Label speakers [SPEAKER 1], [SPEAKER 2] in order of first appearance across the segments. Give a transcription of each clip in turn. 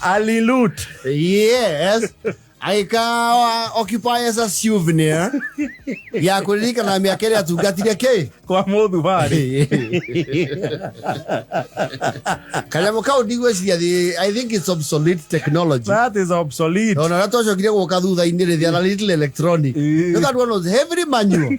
[SPEAKER 1] Alilut. Yes.
[SPEAKER 2] Agĩka occupy as a souvenir ya kũririkana mĩaka ĩrĩa atungatire kĩ kwa mũthu warĩ kanyamũ kau ndigwĩciria thĩ i think it's obsolete technology that is obsolete
[SPEAKER 1] ona ũrĩa twacokire gũka
[SPEAKER 2] thutha-inĩ rĩ thĩana little electronic nĩkanduona heavily manual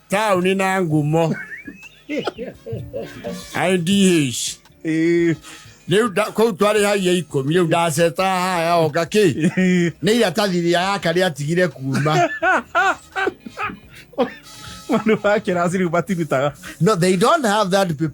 [SPEAKER 2] taụni na ngụmọ idh kũu twarĩ haia ikũmi rĩu ndaceta haya oka kĩ nĩ iratathiri ya karĩa atigire kuma Manu wa
[SPEAKER 1] kirasi riu matirutaga. No, they don't have that
[SPEAKER 2] paper.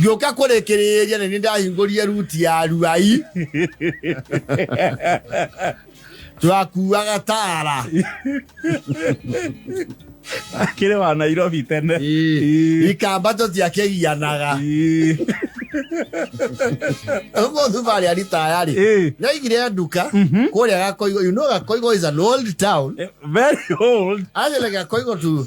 [SPEAKER 2] ngĩũka kũrĩkĩrĩria nĩ ndahingũrie ruti ya ruai twakuaga tara
[SPEAKER 1] akĩrĩ wa nairobi tene ikamba
[SPEAKER 2] tũtiakĩgianaga ũguo thubarĩ aritayarĩ nĩaigire nduka mhm. kũrĩa gakoigo you know gakoigo is an old town eh, very old
[SPEAKER 1] actually gakoigo
[SPEAKER 2] to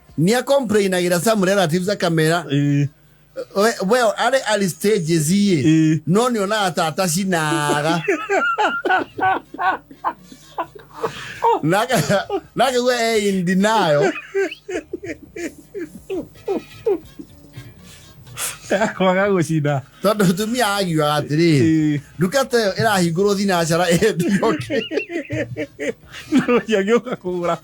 [SPEAKER 2] ni a complain agira some relatives a camera eh we we are ali stages ye eh no ni ona atata sinaga naga naga we eh, in denial
[SPEAKER 1] kwaga gucina tondu mutumia
[SPEAKER 2] agiuga atiri eh nduka ta ĩyo ĩrahingũrwo thinacara ĩyo ndĩyoke
[SPEAKER 1] no ciagĩũka kũgũra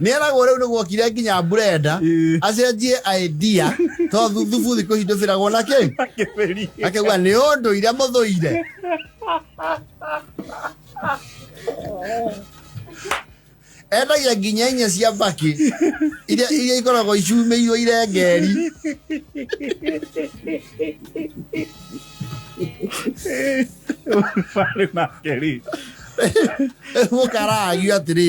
[SPEAKER 2] nä eragwo rä u nä gwokire nginya brenda acenjie idea to thuthubu thikå ici ndå bä ragwo na kä akegua nä å ndå ire må thå ire endagia nginya inya cia mbakĩ iria iria ikoragwo icumĩirwo irengeri Eh, vale makeri mũkaragio atĩrĩ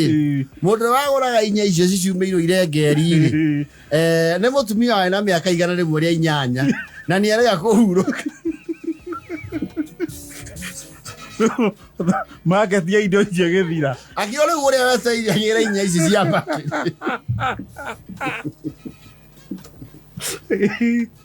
[SPEAKER 2] mũndũ ũrĩa wagũraga inya icio ciciumĩirwo irengeri-rĩ eh, nĩ mũtumia waĩ na mĩaka igana rĩmwe rĩa inyanya na nĩ arega kũhurũka
[SPEAKER 1] maketia indo icio gĩthira akĩo rĩu ũrĩa
[SPEAKER 2] weceiragĩra inya ici cia maĩ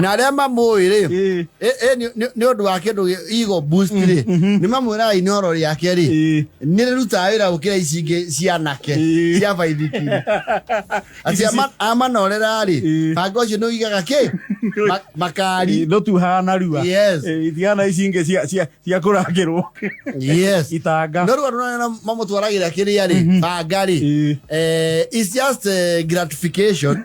[SPEAKER 2] na arĩa mamũĩ rĩ Ĩĩ. ĩ- ĩ, nĩ- nĩ- nĩ ũndũ wa kĩndũ gĩ- ego boost rĩ nĩ mamwĩraga inoro rĩake rĩ Ĩĩ. nĩ rĩrutaga wĩra gũkĩra ici ingĩ cia anake Ĩĩ. cia baithiki Ici atia ci- amanorera rĩ Ĩĩ. banga ũcio nĩ ũigaga kĩ Ma- makari no tuhaga narua
[SPEAKER 1] Yes. itiana
[SPEAKER 2] ici ingĩ cia-
[SPEAKER 1] cia- cia kũrangĩrwo yes
[SPEAKER 2] itanga no rĩu andũ
[SPEAKER 1] nana
[SPEAKER 2] mamũtwaragĩra kĩrĩa rĩ banga rĩ Ĩĩ. eh, it's just eh, gratification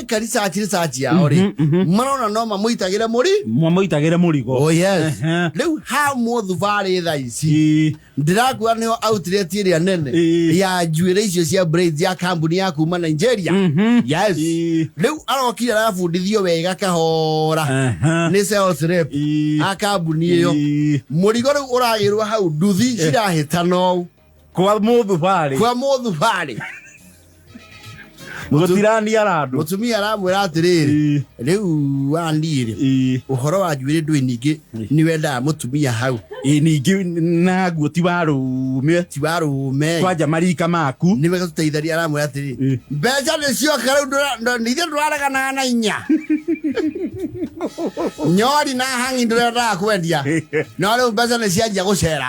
[SPEAKER 2] ka research research yao rĩ Mhm, mhm. marona no mamũitagĩre mũri mwamuitagire murigo oh yes Ehe. rĩu ha mũthubarĩ tha ici Ii, ndĩrakuga nĩyo outlet ĩrĩa nene Ĩĩ. ya njuĩrĩ icio cia braids ya kambuni ya kuma nigeria mhm. yes Ĩĩ. rĩu arokire arabundithio wega kahora Aha. nĩ sales rep Ĩĩ. a kambuni ĩyo Ĩĩ. mũrigo rĩu ũragĩrwo hau nduthi cirahĩtana ũũ kwa mũndũ
[SPEAKER 1] barĩ kwa mũndũ barĩ gũtirania na andũ mũtumia aramwĩra
[SPEAKER 2] atĩrĩrĩ rĩu wandirĩ ũhoro wa njuĩrĩ ndwĩ ningĩ nĩ wendaga mũtumia hau ningĩ
[SPEAKER 1] naguo ti wa rũme ti wa rũme kwanja
[SPEAKER 2] marika maku
[SPEAKER 1] nĩ wega tũteitharia aramwĩra
[SPEAKER 2] atĩrĩ mbeca nĩ cioka rĩu nithe ndũrareganaga na inya nyori na hangi ndũrendaga kwendia no rĩu mbeca nĩ cianjia gũcera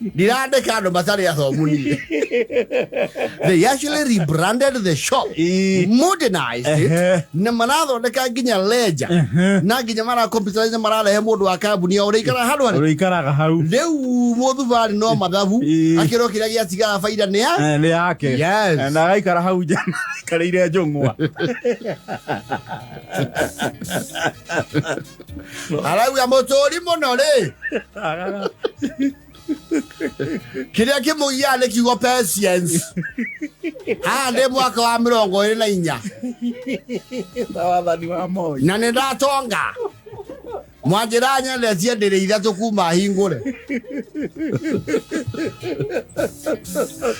[SPEAKER 2] ndirandĩka andũ matarĩ athomu niĩ they actually rebranded the shop Ii. modernized Ehe. it na marathondeka nginya lenja Ehe. na nginya marakomputerize mararehe mũndũ wa kambuni ya ũrĩikara handũ harĩ ũrĩikaraga hau
[SPEAKER 1] rĩu mũthubarĩ
[SPEAKER 2] no mathabu Ii. akĩrwo kĩrĩa gĩatigaga baida nĩ ya Eh, nĩ yake Yes. Eh,
[SPEAKER 1] na agaikara
[SPEAKER 2] hau nja
[SPEAKER 1] aikarĩire njũng'wa
[SPEAKER 2] arauga mũtũũri mũno rĩ kĩrĩa kĩmũgiaga nĩ kiugo patience haha ndĩ mwaka wa mĩrongo ĩrĩ na inya na
[SPEAKER 1] wathani wa moi na nĩ ndatonga
[SPEAKER 2] mwanjĩra nyendetie ndĩrĩ ithatũ kuma hingũre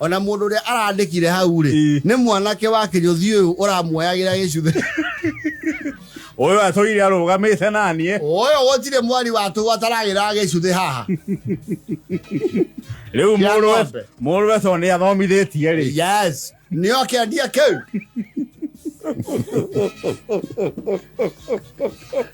[SPEAKER 2] O na mũndũ ũrĩa arandĩkire hau-rĩ, Ĩĩ. nĩ mwanake wa kĩnyũthi ũyũ ũramuoyagĩra gĩcuthe.
[SPEAKER 1] Ũyũ atũire arũgamĩte na niĩ. Ũyũ gũtirĩ
[SPEAKER 2] mwari wa tũũ ataragĩra gĩcuthe haha.
[SPEAKER 1] Rĩu Kĩa mũrũwe ng'ombe. mũrũwe to nĩ athomithĩtie rĩ. Yes, nĩo
[SPEAKER 2] kĩendia kĩu.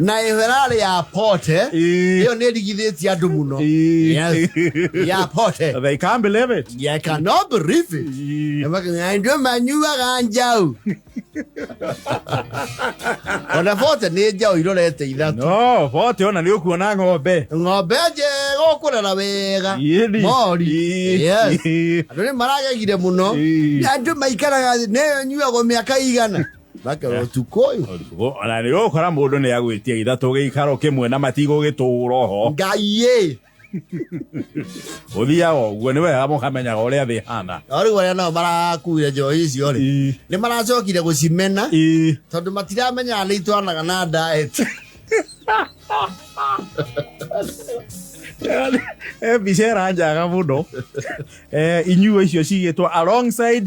[SPEAKER 2] na ĩrarĩ ya pote Ii. ĩyo nĩ ĩrigithĩtie andũ mũno Ii. Yes. ya pote They can't believe
[SPEAKER 1] it. Yeah, I cannot
[SPEAKER 2] believe it. Ii. Ndio manyuaga njau. Ona bote nĩ njau irorete ithatũ. No, bote ona nĩ
[SPEAKER 1] ũkuona ng'ombe. Ng'ombe njega
[SPEAKER 2] ũkũrera wega. Yeni. Mori. Ii. Yes. Andũ nĩ maragegire mũno. Ii. Andũ maikaraga nĩ nyuagwo mĩaka igana. Makarwo ũtukũ ũyũ. Ũtukũ, ona nĩ
[SPEAKER 1] ũkora mũndũ nĩ agwĩtia ithatũ gĩikaro kĩmwe na matigũ gĩtũũro ho Ngai ĩ. ũthiaga ũguo nĩ wega mũkamenyaga ũrĩa thĩ hana Rĩu arĩa nao
[SPEAKER 2] marakuire njohi icio rĩ. Nĩ maracokire gũcimena. Tondũ matiramenyaga nĩ itwanaga na diet.
[SPEAKER 1] mbica ĩranjaga mũno Eh, inyuo icio cigĩtwo alongside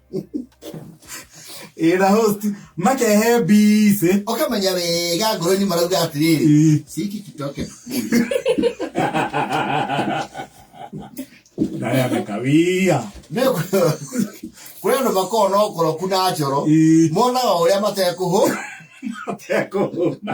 [SPEAKER 1] ĩra host makehe mbici ũkamenya wega
[SPEAKER 2] ngoro-inĩ marauga atĩrĩrĩ Ĩ. ciki kitoke
[SPEAKER 1] ndaya mekawia
[SPEAKER 2] kũrĩ andũ makoragwo na ũkoroku na njoro Ĩ. monaga ũrĩa matekũhũ
[SPEAKER 1] tekũhũna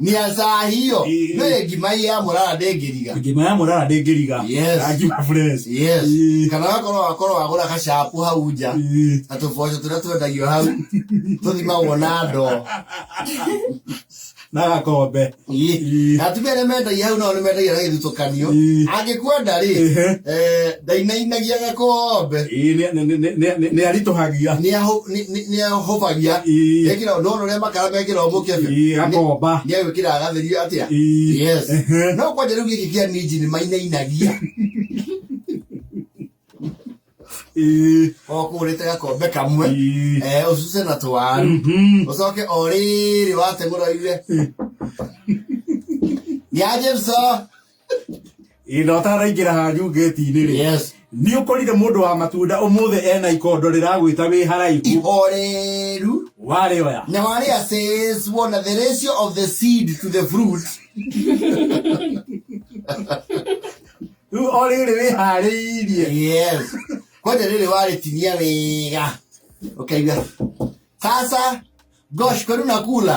[SPEAKER 2] Nia saa hiyo. Eh. No ye ngima ya murara ndengiriga. Ngima ya murara ndengiriga. Yes. Na ngima fresh. Yes.
[SPEAKER 1] Eh. Kana
[SPEAKER 2] wakorwo wakorwo wagura kacapu hau nja. Eh. Na tuboco turia twendagio hau. Tuthima wona ndo.
[SPEAKER 1] Na gakombe. Na atumia arĩa
[SPEAKER 2] mendagia hau nao nĩ mendagia na gĩthutũkanio. Angĩkwenda rĩ, eh, ndainainagia gakombe.
[SPEAKER 1] Nĩ aritũhagia.
[SPEAKER 2] nĩehũbagia Ĩĩ. ekĩra ndona ũrĩa makara mekĩra mũkebe Ĩĩ, akomba. nĩegwĩkĩra
[SPEAKER 1] agatherio
[SPEAKER 2] atĩa Ĩĩ. yes Ehe. no kwanja rĩu gĩkĩ kĩa ninji nĩ mainainagia Ĩĩ. okũrĩte gakombe kamwe Ĩĩ. eh, ũcuse na twaru Mhm. ũcoke o rĩrĩ wategũroire nĩ aje mso
[SPEAKER 1] ĩno ataraingĩra hanyu ngeti-inĩ rĩ yes nĩ ũkorire
[SPEAKER 2] mũndũ wa
[SPEAKER 1] matunda ũmũthĩ ena ikondo rĩragwĩta wĩ haraihu ihoreru
[SPEAKER 2] warĩ oya
[SPEAKER 1] na warĩ a says
[SPEAKER 2] wona the ratio of the seed to the fruit
[SPEAKER 1] rĩu o rĩrĩ wĩ harĩirie yes
[SPEAKER 2] kwanja rĩrĩ warĩtinia wega ũkaigua sasa gosh kwenu nakula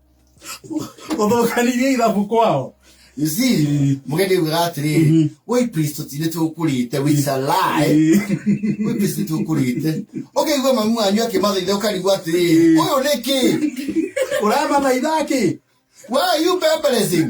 [SPEAKER 1] ũthũkanirie ithabu kwao You see,
[SPEAKER 2] mũgendi ugaga atĩrĩrĩ wĩ pristo ti nĩ tũkũrĩte we is a lie wĩ pristo nĩ tũkũrĩte ũkaigua mamu wanyu akĩmathaitha ũkarigwo atĩrĩrĩ ũyũ nĩ kĩ ũramathaitha
[SPEAKER 1] kĩ why are you
[SPEAKER 2] pemberecing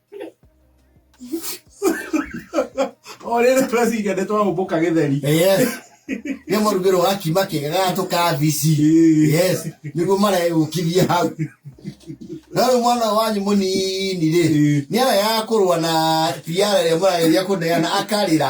[SPEAKER 1] orĩrĩ tweciria nĩ twagũmbũka gĩtheri
[SPEAKER 2] nĩ mũrugĩrwo wa kima kĩega tũ kabici yes nĩguo maregũkithia hau no rĩu mwana ũyũ wanyu mũnini rĩ nĩ ara ya kũrũa na tiara ĩrĩa mũrageria kũneana akarĩra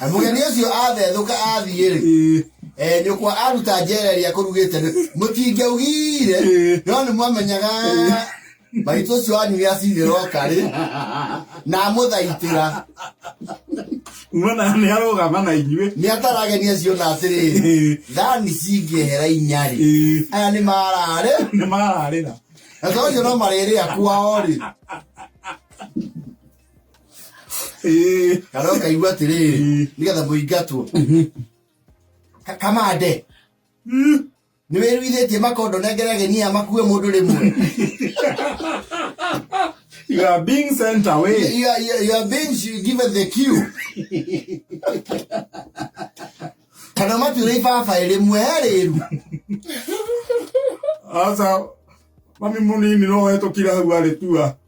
[SPEAKER 2] Na mũgeni ũcio athethũka athiĩ-rĩ Ĩĩ. eh, nyũkwa aruta njera ĩrĩa kũrugĩte nĩ mũtingĩaugire Ĩĩ. no nĩ mwamenyaga maitũ ũcio wanyu nĩ acinĩ rokarĩ na amũthaitĩra
[SPEAKER 1] Muona nĩ arũgama na inyuĩ. nĩ atarageni acio
[SPEAKER 2] na atĩrĩrĩ Ĩĩ. thani cingĩehera inyarĩ Ĩĩ. aya nĩ mararĩ
[SPEAKER 1] Nĩ
[SPEAKER 2] mararĩra. na to ũcio no marĩrĩa kwao-rĩ kana ũkaigua atĩrĩ nĩgetha mũingatwo Ka- kamande nĩ wĩruithĩtie makondo nengere ageni aya makue mũndũ rĩmwe
[SPEAKER 1] You are being sent away. You are- you are- you are being
[SPEAKER 2] given the cue. kana matuire ibabaĩ rĩmwe he rĩru
[SPEAKER 1] Aca mami mũnini no hetũkira hau arĩ tua.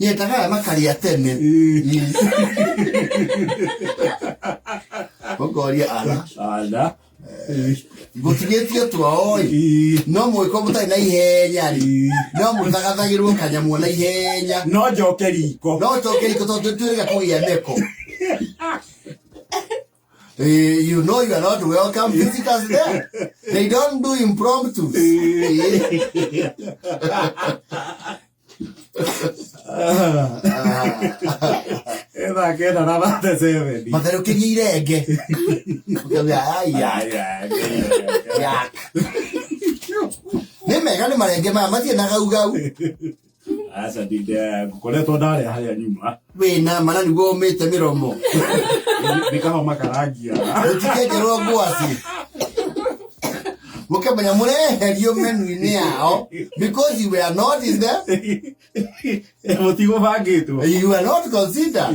[SPEAKER 2] Nyendaga aya makarĩa tene. Ũkoria ara. Ala. Ngũtigĩtie twao-ĩ. Ii. No mũgĩkorwo mũtarĩ na ihenya-rĩ, Ii. no mũthagathagĩrwo kanyamũ na ihenya. No njoke riko.
[SPEAKER 1] No njoke riko tondũ
[SPEAKER 2] nĩtwĩrĩga kũgĩa meko. Eh, you know you are not welcome visitors there. They don't do impromptu. Eh.
[SPEAKER 1] ethake na rabate seveni matherũkĩrie irenge
[SPEAKER 2] Ũkauga, "Ai, ai, yak." nĩ mega nĩ marenge maya mathiĩ na gaugau
[SPEAKER 1] aca ndinde ngokoretwo ndarĩa harĩa nyuma wĩna ma na nĩguo
[SPEAKER 2] ũmĩte mĩromo nĩ
[SPEAKER 1] kama makarangia ũtikenjerwo
[SPEAKER 2] ngwacĩ mũkĩmenya mũreherio menu-inĩ yao because you were not in the
[SPEAKER 1] mũtigũbangĩtwo you were not
[SPEAKER 2] considered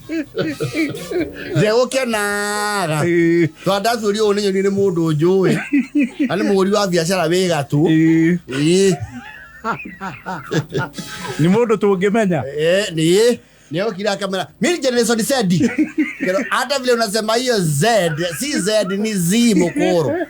[SPEAKER 2] njegũkĩa naga tondũ ndatuĩria ũũ nĩnyoni nĩ mũndũ njũĩ na nĩ mũgũri wa biacara wĩ gatũ Ĩĩ, Ĩĩ,
[SPEAKER 1] nĩ mũndũ tũngĩmenya eh, nĩ
[SPEAKER 2] nĩokire akamera mimi generation Z Kero, hata vile unasema hiyo Z si Z ni Z mukuru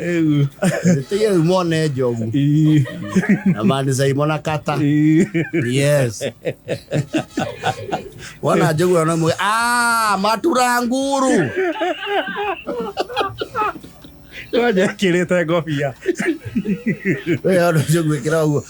[SPEAKER 2] Rĩu. Ĩtĩye rĩu mone njogu Ii. na mani zaimona kata Ii. yes wana njogu wana mwe ah matura nguru
[SPEAKER 1] Wanja ekĩrĩte ngobia
[SPEAKER 2] we wana njogu ikira uguo